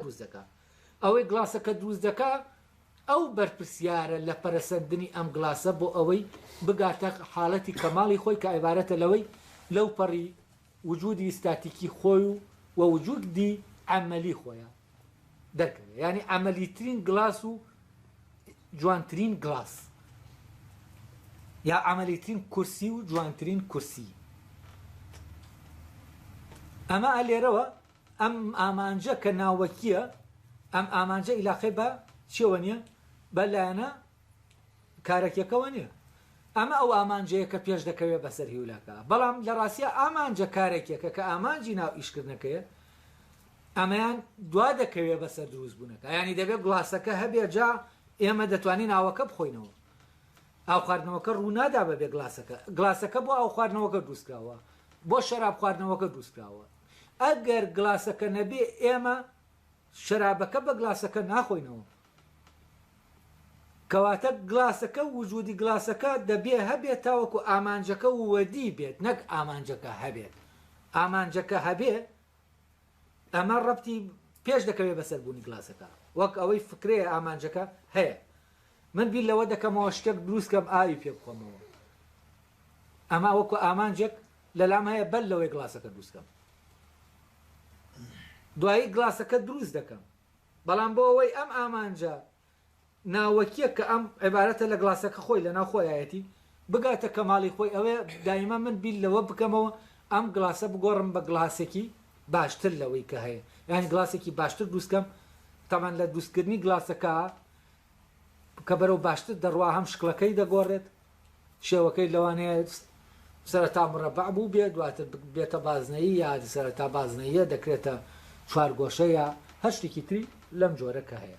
دروست دەکا. ئەوەی گڵاسەکە دروست دەکا ئەو بەرپرسیارە لە پەرەسەندنی ئەم گڵاسە بۆ ئەوەی بگاتە حاڵەتی کەماڵی خۆی کە عیبارەتە لەوەی لەوپەڕی وجودی ستاتیکی خۆی و و وجودی عەمەلی خۆیە دەرکەوێ یانی عەمەلیترین گڵاس و جوانترین گڵاس یا عەمەلیترین کورسی و جوانترین کورسی ئەمە لێرەوە ئەم ئامانجە کە ناوەکییە، ئەم ئامانجە ئیلاقەی بە چیەوە نیە؟ بە لایەنە کارەکیەکەوە نیە. ئەمە ئەو ئامانجەیە کە پێش دەکەوێت بەسەر هیولاکە. بەڵام لە ڕاستیا ئامانجە کارەکیەکە کە ئامانجی ناو ئیشکردنەکەیە، ئەمەیان دوا دەکەوێت بەسەر دروست بوونەکە. یانی دەبێت گڵاسەکە هەبێت جا ئێمە دەتوانین ئاوەکە بخۆینەوە. ئاو خواردنەوەکە ڕوو نادا بەبێ گڵاسەکە. گڵاسەکە بۆ ئاو خواردنەوەکە دروست کراوە. بۆ شەراب خواردنەوەکە دروست کراوە. ئەگەر گڵاسەکە نەبێ ئێمە شەرابەکە بە گڵاسەکە ناخۆینەوە. کەواتە گڵاسەکە وجودی گڵاسەکە دەبێ هەبێت تاوەکو ئامانجەکە ووەدی بێت نەک ئامانجەکە هەبێت. ئامانجەکە هەبێ ئەمە ڕەبتی پێش دەکەوێ بەسەر بوونی گڵاسەکە. وەک ئەوەی فکرەیە ئامانجەکە هەیە. من بیر لەوە دەکەمەوە شتێک دروست کەم ئاوی پێ بخۆمەوە. ئەمە وەکو ئامانجێک لەلام هەیە بەر لەوەی گڵاسەکە دروستکەم دوایی گڵاسەکە دروست دەکەم بەڵام بۆ ئەوەی ئەم ئامانجە ناوەکیە کە ئەم عبارەتە لە گڵاسەکە خۆی لە ناو خۆیایەتی بگاتە کەماڵی خۆی ئەوێ دایمە من بیر لەوە بکەمەوە ئەم گڵاسە بگۆڕم بە گڵاسێکی باشتر لەوەی کە هەیە یان گڵاسێکی باشتر دروستکەم تەمان لە دروستکردنی گڵاسەکە کە بەرەو باشتر دەڕوا هەم شکڵەکەی دەگۆڕێت شێوەکەی لەوانەیە سەرەتا مرەبەع بوو بێ دواتر بێتە بازنەیی یا سەرەتا بازنەیە دەکرێتە چوارگۆشەیە هەر شتێکی تری لەم جۆرە کە هەیە